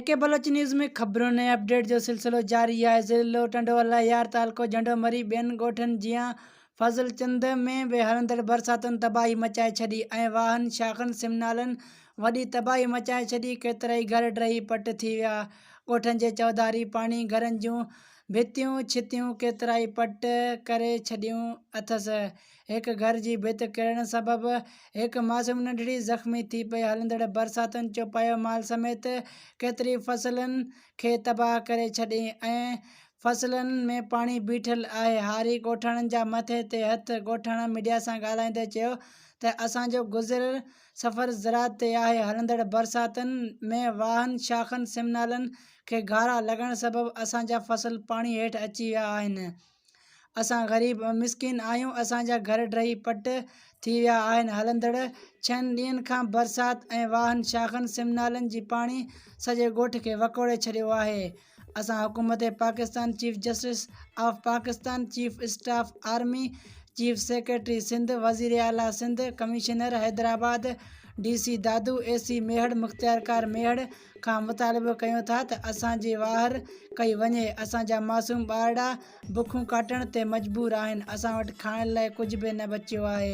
ايڪي بلوچ نيوز ۾ خبرن ۽ اپڊيٽ جو سلسلو جاري آهي ضلعو ٽنڊوالهيار تعلقو جهنڊومري ٻين ڳوٺن جيان فضل چند ۾ به هلندڙ برساتن تباهي مچائي ڇڏي ۽ واهن شاخن سمنالن وڏي تباهي مچائي ڇڏي ڪيترائي گهر ڊهي پٽ ٿي ويا ڳوٺن جي چوڌاري پاڻي گهرن جون ڀتيون ڇتيون ڪيترائي پٽ ڪري ڇڏيون اٿس. هڪ گهر جي ڀت ڪرڻ سبب هڪ معصوم ننڍڙي زخمي ٿي پئي. هلندڙ برساتن چوپايو مال سميت ڪيتري فصلن کي تباهه ڪري ڇڏين ۽ فصلن ۾ پاڻي بيٺل آهي. هاري ڳوٺاڻن جا مٿي تي هٿ ڳوٺاڻا ميڊيا سان ڳالهائيندي چيو ته اسان جو گذر سفر زراعت تي آهي، هلندڙ برساتن ۾ واهن، شاخن، سمنالن کي گهارا لڳڻ سبب اسان جا فصل پاڻي هيٺ اچي ويا آهن. اسان غريب ۽ مسڪين آهيون، اسان جا گهر ڊهي پٽ ٿي ويا آهن، هلندڙ ڇهن ڏينهن کان برسات ۽ واهن، شاخن، سمنالن جي پاڻي سڄي ڳوٺ کي وڪوڙي ڇڏيو آهي. اسان حڪومت Pakistan, chief justice of Pakistan, chief staff army, chief secretary Sindh, وزير اعليٰ Sindh, commissioner Hyderabad, D C Dadu, A C Mehar, مختيارڪار ميهڙ کان مطالبو ڪيون ٿا ته اسان جي واهر ڪئي وڃي، اسان جا معصوم ٻارڙا بکون ڪاٽڻ تي مجبور آهن، اسان وٽ کائڻ لاء ڪجهه به نه بچيو آهي.